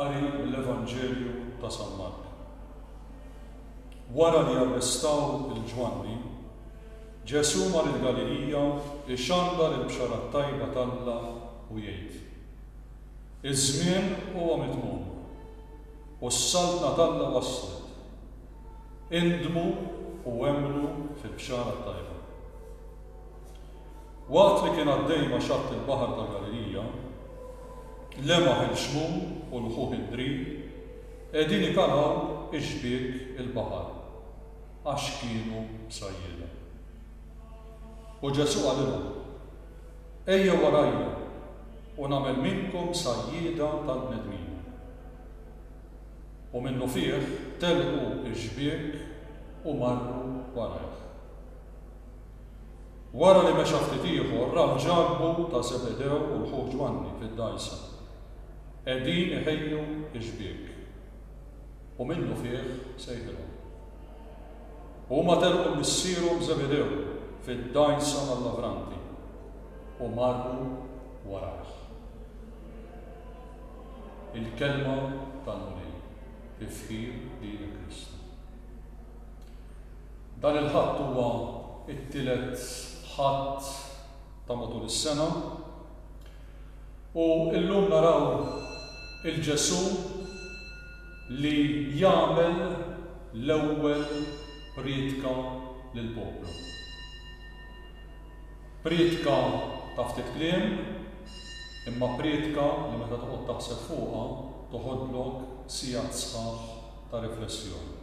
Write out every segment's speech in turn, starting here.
Qari mill-Evanġelju ta' San Mark. Wara li arrestaw lil Ġwanni, Ġesù mar il-Galilija jxandar il-Bxara t-Tajba t'Alla u jgħid, Iż-żmien huwa mitmum, u s-Saltna t'Alla waslet. Indmu u emmnu fil-Bxara t-Tajba. Waqt li kien għaddej ma' xatt il-baħar ta' Galilija, lemaħ il-Xmun u lħuh id-Drin qegħdin ikalgħu x-xbiek il-baħar, għax kienu bsajjieda. U Ġesù qalilhom, Ejjew warajja u nagħmel minnkom sajjieda tal-bnedmin. U minnufih telqu x-xbiek u marru warajh. Wara li mexa ftit ieħor raw Ġakbu ta' Żebedew u l-ħu Ġwanni fid-dgħajsa, qegħdin iħejju x-xbiek. U minnufih sejħilhom. U huma telqu missierhom Żebedew fid-dgħajsa mal-lavranti u marru warajh. Il-Kelma tal-Mulej fi fħir lilek Kristu. Dan il-Ħadd huwa t-tielet Ħadd ta' matul is-sena u llum naraw il-Ġesu' li jagħmel l-ewwel prietka lill-poplu. Prietka ta' ftit kliem, imma prietka li meta toqgħod taħseb fuqha toħodlok sigħat sħaħ ta' riflessjoni.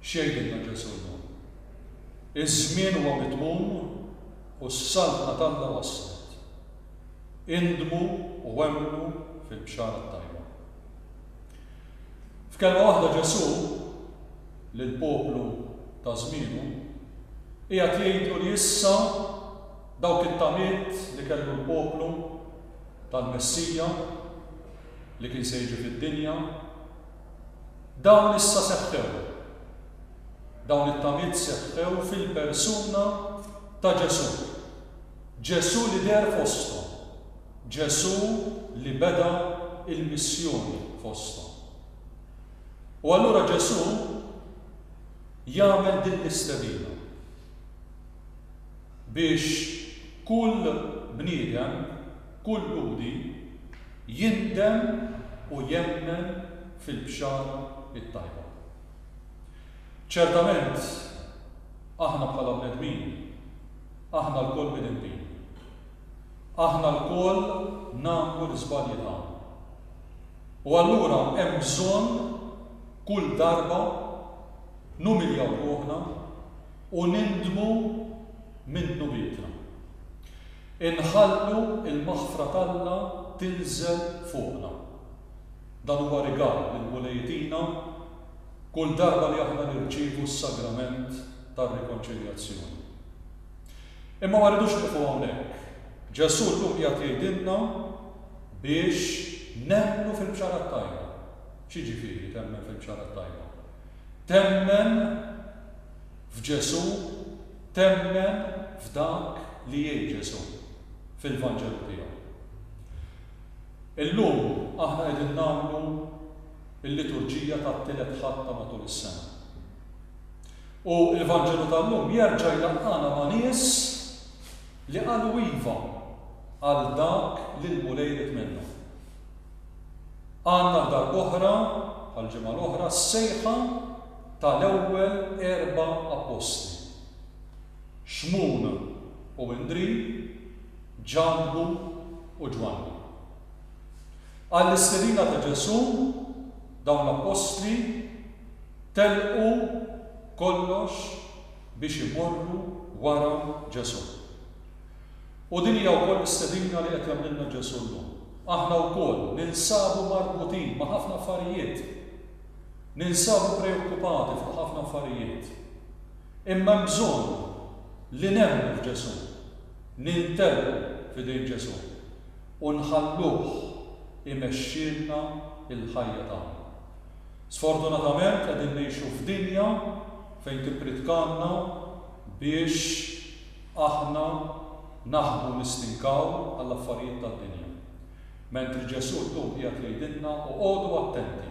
X'jgħidilna Ġesù llum? Iż-żmien huwa mitmum u s-Saltna t'Alla waslet. Indmu u emmnu fil-Bxara t-Tajba. F'kelma waħda Ġesù. lill-poplu ta' żmienu, qiegħed jgħidlu li issa dawk it-tamiet li kellu l-poplu tal-Messija li kien se jiġi fid-dinja, dawn issa seħħew. Dawn it-tamiet seħħew fil-persuna ta' Ġesù. Ġesù li deher fosthom. Ġesù li beda l-missjoni fosthom. U allura Ġesù jagħmel din l-istedina biex kull bniedem, kull Lhudi jindem u jemmen fil-Bxara t-Tajba. Ċertament, aħna bħala bnedmin, aħna lkoll midinbin. Aħna lkoll nagħmlu l-iżbalji tagħna. U allura hemm bżonn kull darba numiljaw ruħna u nindmu minn dnubietna. Inħallu l-maħfra t'Alla tinżel fuqna. Dan huwa rigal li l-Mulej itina kull darba li aħna nirċievu s-Sagrament tar-Rikonċiljazzjoni. Imma ma rridux nieqfu hawnhekk. Ġesù llum qiegħed jgħidilna biex nemmnu fil-Bxara t-Tajba. X'jiġifieri temmen fil-Bxara t-Tajba? Temmen f'Ġesù, temmen f'dak li jgħid Ġesù fil-Vanġelu tiegħu. Illum aħna qegħdin nagħmlu l-liturġija tat-Tielet Ħadd ta' matul is-sena. U l-Vanġelu tal-lum jerġa' jlaqqagħna ma' nies li qalu iva għal dak li l-Mulej ried minna. Għandna għal darb'oħra, bħall-ġimgħa l-oħra, s-sejħa ta' l-ewwel erba' appostli. Xmun u Indrì, Ġakbu u Ġwanni. Għall-istedina ta' Ġesù, dawn l-appostli telqu kollox biex imorru wara Ġesù. U din hija wkoll l-istedina li qed jagħmlilna Ġesù llum. Aħna wkoll ninsabu marbutin ma' ħafna affarijiet, ninsabu preokkupati fuq ħafna affarijiet. Imma hemm bżonn li nemmnu f'Ġesù, nintelqu f'idejn Ġesù. u nħalluh imexxielna l-ħajja tagħna. Sfortunatament qegħdin ngħixu f'dinja fejn tippritkalna biex aħna naħbu nistinkaw għall-affarijiet tad-dinja. Mentri Ġesù llum qiegħed jgħidilna oqogħdu attenti.